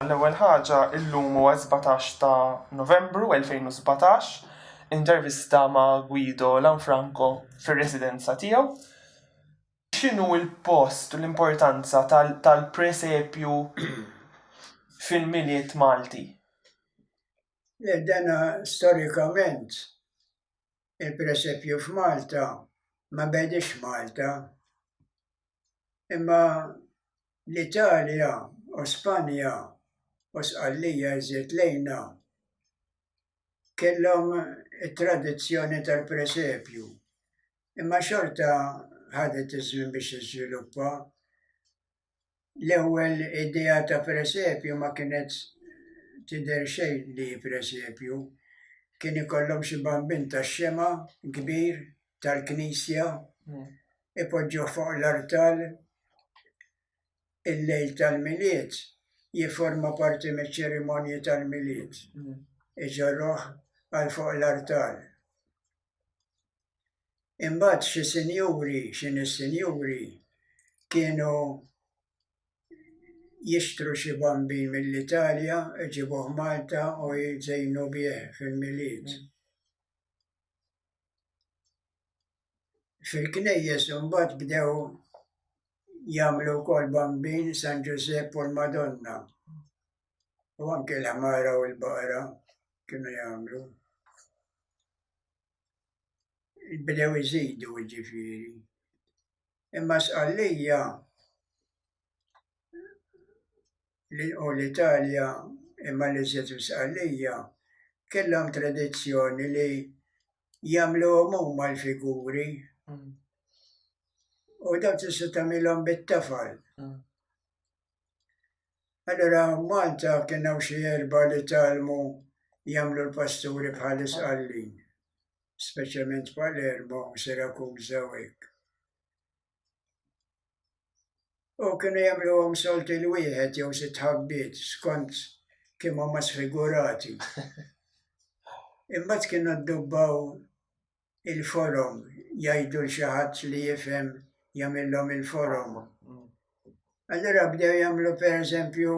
L-ewwel ħaġa, illum huwa s-sbatax ta' Novembru 2017, intervista ma' Guido Lanfranco fir-residenza tiegħu. X'inhu l-post u l-importanza tal-presepju fil-Milied Malti? Le, dan storikament il-presepju f'Malta ma bediex f'Malta. imma l-Italja u Spanja u Sqallija iżjed lejna kellhom it-tradizzjoni tal-presepju imma xorta ħadet iż-żmien biex tiżviluppa. L-ewwel idea ta' presepju ma kienet tidher xejn li hi presepju, kien ikollhom xi bambin tax-xemgħa kbir tal-knisja ipoġġuh fuq l-artal il-lejl tal-Milied jifforma parti miċ-ċerimonji tal-Milied. Iġorruh għal fuq l-artal. Imbagħad xi sinjuri, xi nies sinjuri kienu jixtru xi bambin mill-Italja, iġibuh Malta u jżejnu bih fil-Milied. Fil-knejjes imbagħad bdew jagħmlu wkoll bambin San Ġużepp u l-Madonna. U anke l-ħmara u l-baqra kienu jagħmlu. Bdew iżidu ġifieri. Imma sqallija li u l-Italja imma li żied msqallija kellhom tradizzjoni li jagħmluhom huma l-figuri u dawn tista' tagħmilhom bit-tafal. Allora Malta kien hawn xi erba' li talmu jagħmlu l-pasturi bħal isqallin, speċjalment Palermo, Sirakuża u hekk. U kienu jagħmluhom solti l wieħed jew sitt ħabbiet skont kemm huma sfigurati. Imbagħad kienu ddubbaw il-forom jgħidu l xi ħadd li jifhem jagħmilhom il-forom. Allura bdew jagħmlu pereżempju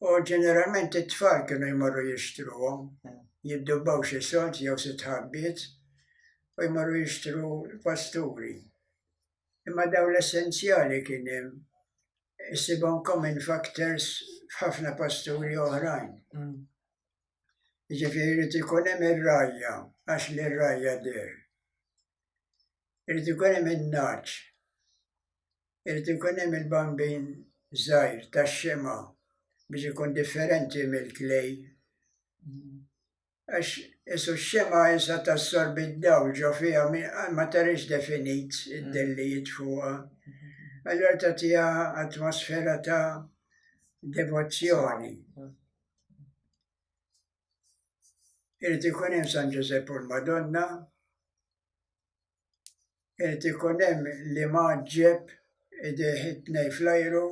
U ġeneralment it-tfal kienu jmorru jixtruhom, jiddubbaw xi sod jew xi tħabbiet u jmorru jixtru pasturi. Imma daw l-essenzjali kien hemm issibhom common factors f'ħafna pasturi oħrajn. Mm. Ġifieri jrid ikun hemm ir-rajja għax li r-rajja der. Irid ikun hemm in-naċ. irid ikun hemm il-bambin żgħir tax-xemgħa biex ikun differenti mill-klej. Għax isu x-xemgħa issa tassorbi d-dawl ġo fiha ma tarix definit id-dellijiet fuqha. Allura tagħtiha atmosfera ta' devozzjoni. Irid ikun hemm San Ġużepp u l-Madonna Irid ikun hemm li maġġeb idejh it-tnej fl-ajru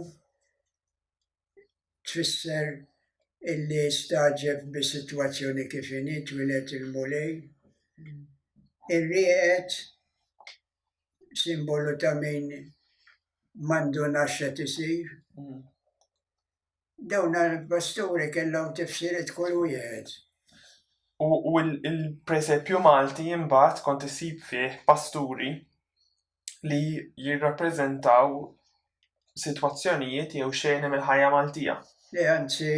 tfisser illi stagħġeb bis-sitwazzjoni kif inhi twieled il-Mulej. Ir-rieqed simbolu ta' min m'għandu naxxet isir. Dawn l-basturi kellhom tifsiriet kull wieħed. U l-presepju Malti imbagħad kont isib fih pasturi li jirrappreżentaw sitwazzjonijiet jew xeni mill-ħajja Maltija. Li anzi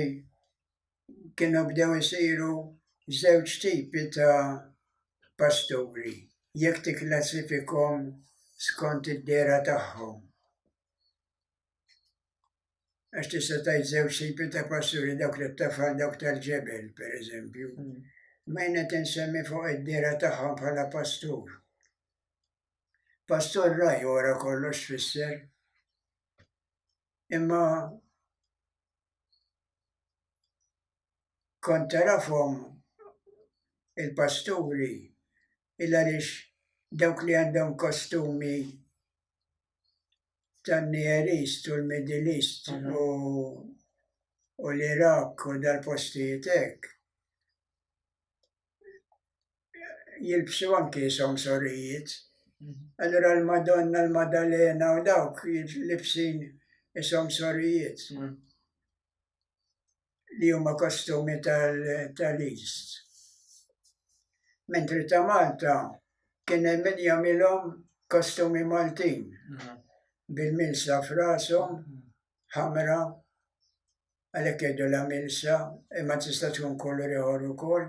kienu bdew isiru żewġ tipi ta' pasturi jekk tikklassifikhom skont id-dera tagħhom. Għax tista' tajt zew sipi ta' passuri dawk li tafal dawk tal-ġebel, per eżempju. Mm. Ma jena tinsemmi fuq id-dira tagħhom bħala pastur. Pastur raj wara kollox fisser. Imma kont tarafhom il-pasturi il għaliex dawk li għandhom kostumi tan-Near East u l-Middle East u u l-Iraq u dal-postijiet hekk jilbsu anki somsorijiet. Allura l-Madonna, l-Madalena u dawk jilbsin somsorijiet. li huma kostumi tal-East. Mentri ta' Malta kien hemm min jagħmilhom kostumi Maltin mm-hmm. bil-milsa f'rashom mm-hmm. ħamra għalhekk jgħidu la milsa imma tista' tkun kulur ieħor ukoll.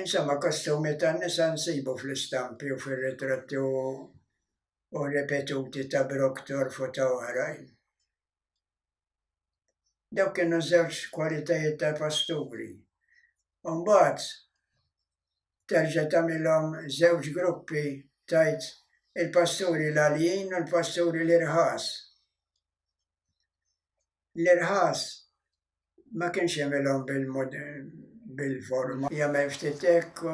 Insomma, kostumi tan nisa nsibu fl-istampi u fir-ritratti u ripetuti ta' Broktor u ta' oħrajn. Dawk kienu żewġ kwalitajiet tal-pasturi. Umbagħad terġa' tagħmilhom żewġ gruppi tajt il-pasturi l-għaljin u l-pasturi l-irħas. l-irħas ma kienx jagħmilhom bil-forma. Jagħmel ftit hekk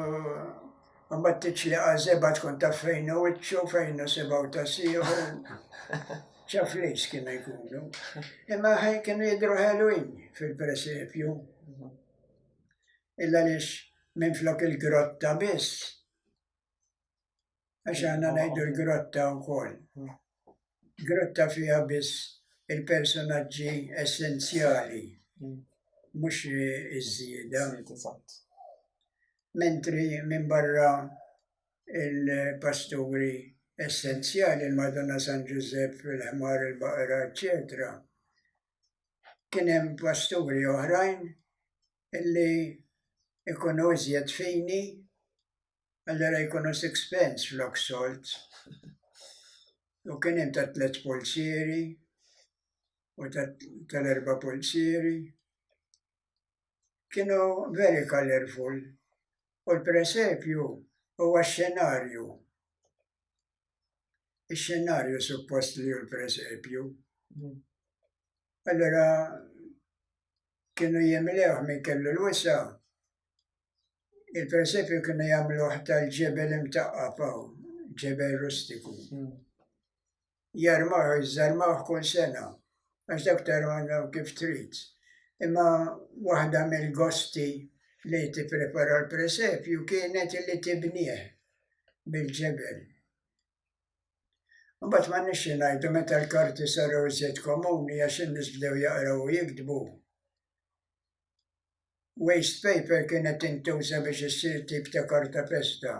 u mbagħad tiċċli għażeba tkun taf fejn hu wiċċu, fejn hu sibgħu ta' sieħu. ċaf lejs kien jkunu. Imma kienu jidru ħelwin fil-presepju. Illa lix minn flok il-grotta biss għax għanna najdu l-grotta u koll. Grotta fija biss il-personaġġi essenzjali, mux iż-żieda. Mentri minn barra il-pasturi essenzjali, il-Madonna San Giuseppe, fil-ħmar, il-baqra, eccetera. Kienem pasturi oħrajn illi ikunu iżjed fini Allora jkunu six pence flok solt. U kien hemm ta' tliet pulsieri u tal-erba' pulsieri. Kienu very colorful. U l-presepju huwa xenarju. Ix-xenarju suppost li hu l-presepju. Allora kienu jimlewh min kellu l-wisa' Il-persepju kienu jagħmluh tal-ġebel imtaqqa faw, ġebel rustiku. Hmm. Jarmaħ, iżarmaħ kull sena, għax dak tarmaħ kif trid. Imma waħda mill-gosti li tipprepara l-presepju kienet li tibnieh bil-ġebel. Mbagħad ma nixxi ngħidu meta l-karti saru iżjed komuni għax in-nies bdew jaqraw u jiktbu waste paper kienet intuża biex issir tip ta' karta pesta.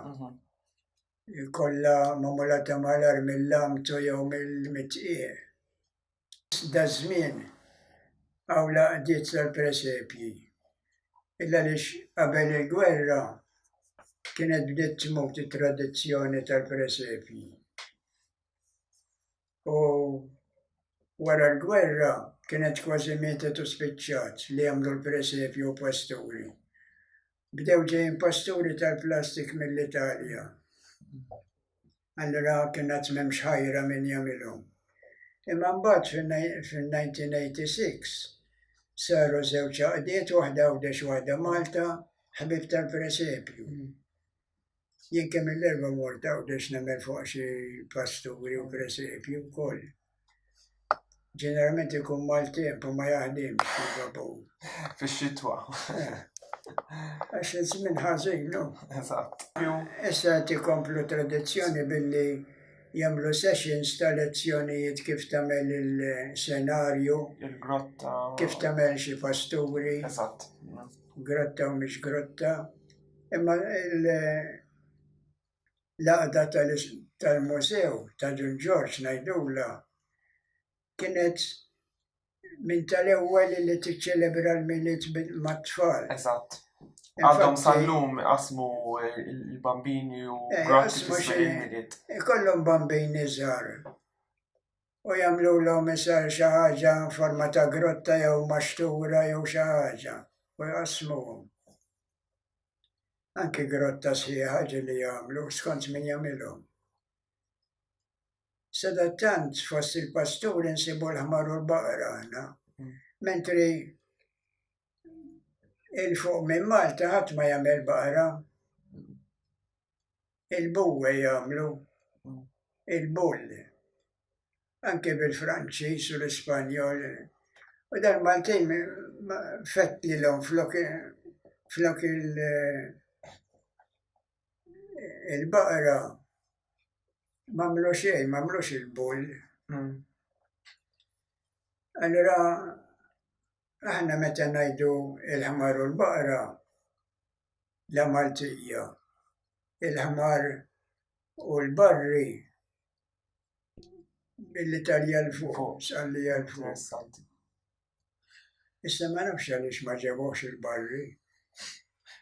Kolla mamula ta' malar mill-lamtu jew mill-mitqieq. Da żmien għaw laqdiet tal-presepji. Illa lix qabel il-gwerra kienet bdiet tmut it-tradizzjoni tal-presepji. u wara l-gwerra kienet kważi mietet u spiċċat li jagħmlu l-presepju u pasturi. Bdew ġejjin pasturi tal-plastik mill-Italja. Allura kien għad m'hemmx ħajra min jagħmilhom. Imma mbagħad fin-1986 saru żewġ għaqdiet waħda Għawdex waħda Malta ħbib tal-presepju. Jien kemm il-erba morta u dex nemel fuq xi pasturi u presepi u koll. Ġeneralment ikun mal-temp u ma jaħdimx il-babu. Fix-xitwa. Għax iż-żmien ħażin, no? Eżatt. Issa qed ikomplu tradizzjoni billi jagħmlu sessions ta' lezzjonijiet kif tagħmel il-senarju. Il-grotta. Kif tagħmel xi pasturi. Eżatt. Grotta u mhix grotta. Imma l-għaqda tal-mużew ta' Dun Ġorġ ngħidulha kienet minn tal-ewwel li tiċċelebra l-Milied mat-tfal. Eżatt. Għadhom sal-lum qasmu l-bambini u eh, grazzi fis-Milied. Ikollhom bambini żgħar u jagħmlu l-hom isar xi ħaġa forma ta' grotta jew maxtura jew xi ħaġa u jqassmuhom. Anki grotta sħiħa ġili jagħmlu skont min jagħmilhom. Sadattant fost il-pasturi nsibu l-ħmar u l-baqra aħna, mentri il-fuq minn Malta ħadd ma jagħmel baqra. il-buwe jagħmlu il-bull. Anke bil-Franċiż u l-Ispanjol. U dan Maltin fett li l-om flok flok il- il-baqra mamlu xej, mamlux il-bull. Hmm. Allora Aħna meta ngħidu il-ħmar u l-baqra, la Maltija, il-ħmar u l-barri, billi talja l-fuq, salli l-fuq. Issa ma nafx għaliex ma ġebux il-barri.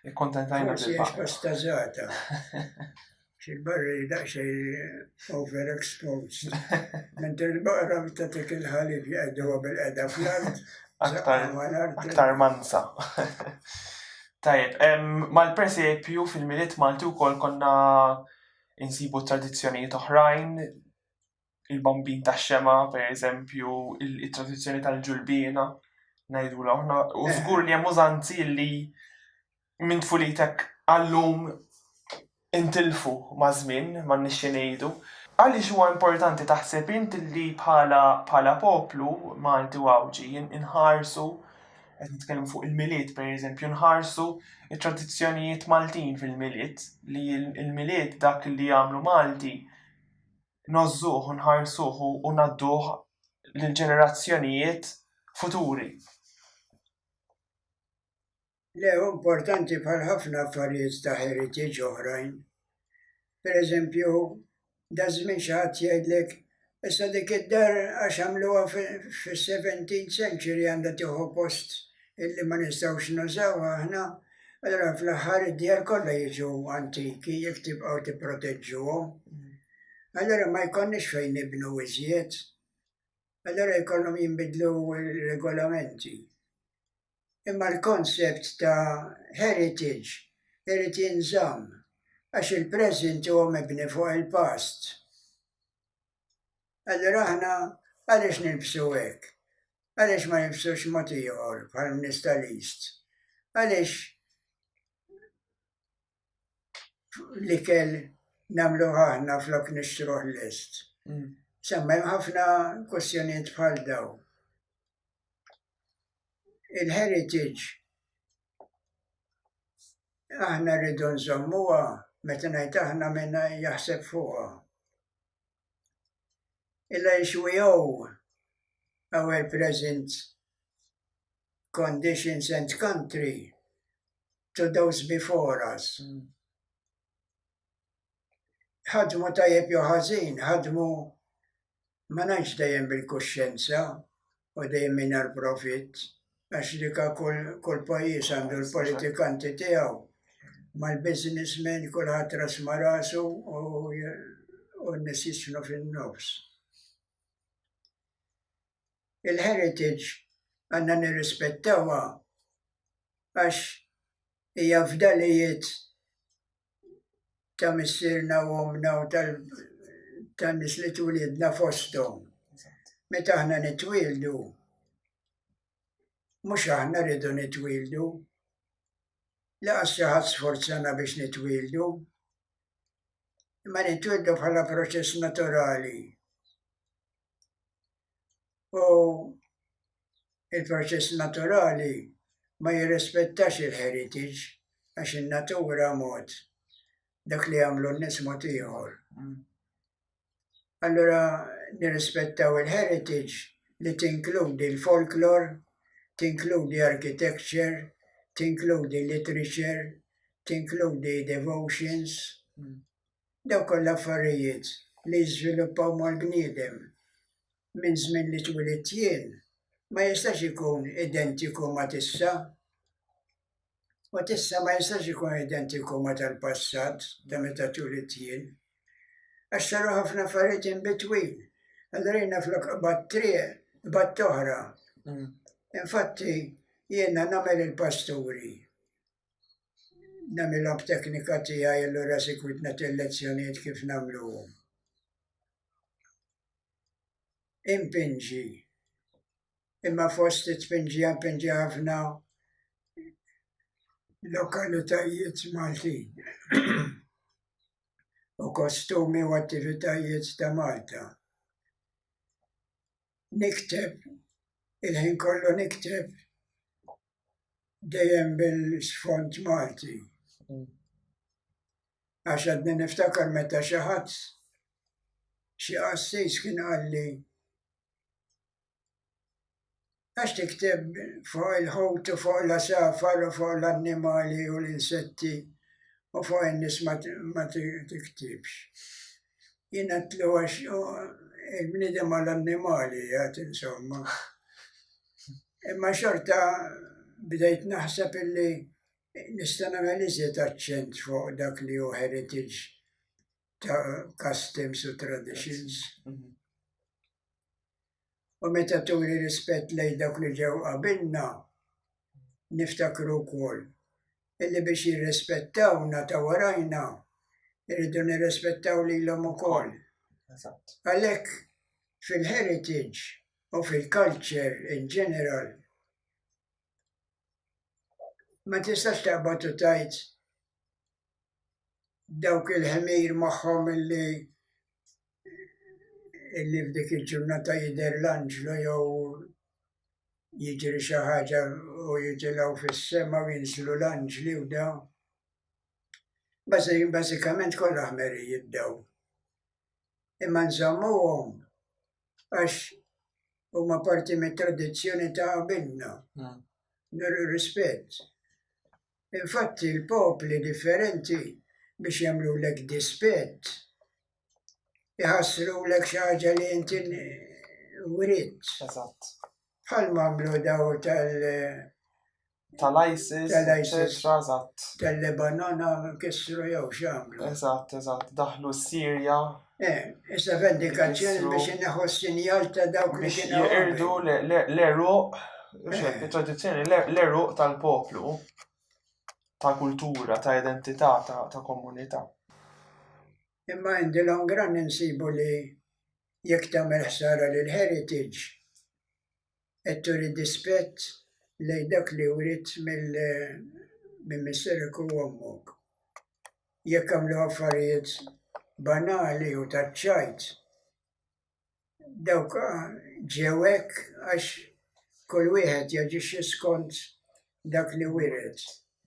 Ikkontentajna bil Forsi bastazata. Xil-barri daqxej overexposed. Mentre l-baqra tatik il-ħalib li għedduwa bil-qeda fl-art. Aktar mansa. Tajib, mal-presepju fil-miliet Malti u kol konna insibu tradizjonijiet oħrajn il-bambin tax-xema, per eżempju, il-tradizzjoni tal-ġulbiena, najdu laħna, u eh. zgur li hemm użanzi li minn tfulitek għallum intilfu ma' żmien, ma' nixxi ngħidu. Għaliex huwa importanti taħseb int li bħala bħala poplu Malti u Għawġi inħarsu qed nitkellmu fuq il-milied pereżempju nħarsu it-tradizzjonijiet Maltin fil-milied li l-milied dak li jagħmlu Malti ngħożżuh u nħarsuh u ngħadduh lill-ġenerazzjonijiet futuri. Le, hu importanti bħal ħafna affarijiet ta' heritage oħrajn. Per eżempju, da żmien xi ħadd jgħidlek issa dik id-dar għax għamluha fis-17th century għandha tieħu post illi ma nistgħux nużaw aħna, allora fl-aħħar id-djar kollha jiġu antiki jekk tibqgħu tipproteġġuhom. Allora ma jkollniex fejn nibnu iżjed. Allora jkollhom jinbidlu regolamenti. Imma l-konsept ta' heritage irid jinżamm għax il-present huwa mibni fuq il-past. Allura aħna għaliex nilbsu hekk? Għaliex ma nilbsux mod ieħor bħal nies tal-East? Għaliex l-ikel namlu ħahna flok nixtruħ l-est. Mm. Semma hemm ħafna kwestjonijiet bħal daw. Il-heritage aħna rridu nżommuha meta ngħid aħna minna jaħseb fuqha. il nxwiew our present conditions and country to those before us. ħadmu tajjeb jew ħażin, ħadmu ma ngħidx dejjem bil-kuxjenza, u dejjem mingħajr profitt għax li kull kull pajjiż għandu l-politikanti tiegħu mal-businessmen kulħadd ras ma' rasu u u n-nies jisnu fin-nofs. Il-heritage għandna nirrispettawha għax hija fdalijiet ta' missierna u omna u tan-nies li twilidna fosthom. Meta aħna nitwieldu, mhux aħna rridu nitwieldu, laqas xi ħadd sforzana biex nitwieldu, imma nitwieldu bħala proċess naturali. u il-proċess naturali ma jirrispettax il-heritage għax in-natura mod, dak li jagħmlu n-nies mod ieħor. Allura nirrispettaw il-heritage li tinkludi l-folklor, tinkludi architecture, tinkludi literature, tinkludi devotions. Dawn kollha affarijiet li jiżviluppaw mal-bniedem minn żmien li twilit jien ma jistax ikun identiku ma' t'issa. U t'issa ma jistax ikun identiku ma' tal-passat ta' meta twilit jien. Għax saru ħafna affarijiet in between. Allura jiena flok qbadt triq, qbadt oħra. Infatti jiena nagħmel il-pasturi. namilhom b'teknika tiegħi allura sikwit nagħti lezzjonijiet kif nagħmluhom. Impinġi. Imma fost it-tpinġi impinġi ħafna lokalitajiet Maltin. u kostumi u attivitajiet ta' Malta. nikteb, il-ħin kollu nikteb dejjem bil-sfond Malti. Mm. Għax għadni niftakar meta xi ħadd xi qassis kien għalli għax tikteb fuq il-ħut u fuq la safar u fuq l-annimali u l-insetti u fuq in-nies ma tiktibx. jinqatlu għax il-bniedem għal annimali għad insomma. Imma xorta bdejt naħseb illi nista' nagħmel iżjed aċċent fuq dak li hu heritage ta' customs u traditions. U meta turi rispett lejn dawk li ġew qabilna, niftakru wkoll illi biex jirrispettawna ta' warajna irridu nirrispettaw lilhom ukoll. Għalhekk fil-heritage u fil-culture in general ma tistax taqbad u tajt dawk il-ħmir magħhom illi illi f'dik il-ġurnata jidher l-anġlu jew jiġri xi ħaġa u jitilgħu fis-sema u jinżlu l-anġli u dawn. Bażikament kollha ħmerijiet dawn. imma nżammuhom għax huma parti mit tradizzjoni ta' qabilna. Hmm. Rispett. Infatti l-popli differenti biex jagħmlu lek dispett jħassru lek xi ħaġa li inti writ. Eżatt. Bħal mamlu daw tal- tal-ISIS, eċetera, eżatt. Tal-Lebanon kissru jew x'għamlu. Eżatt, eżatt, daħlu s-Sirja. Eh, issa vendikazzjoni biex neħu s-sinjal ta' dawk li kienu. Jirdu l-eruq, eh. tradizzjoni l-eruq tal-poplu, ta' kultura, ta' identità, ta' komunità. Imma indi l-ongran insibu li jekk tagħmel ħsara lil heritage, qed turi dispett lejn dak li wriet minn missierek u ommok. Jekk għamlu affarijiet banali u taċ-ċajt, dawk ġew hekk għax kull wieħed jaġixxi skont dak li wiret.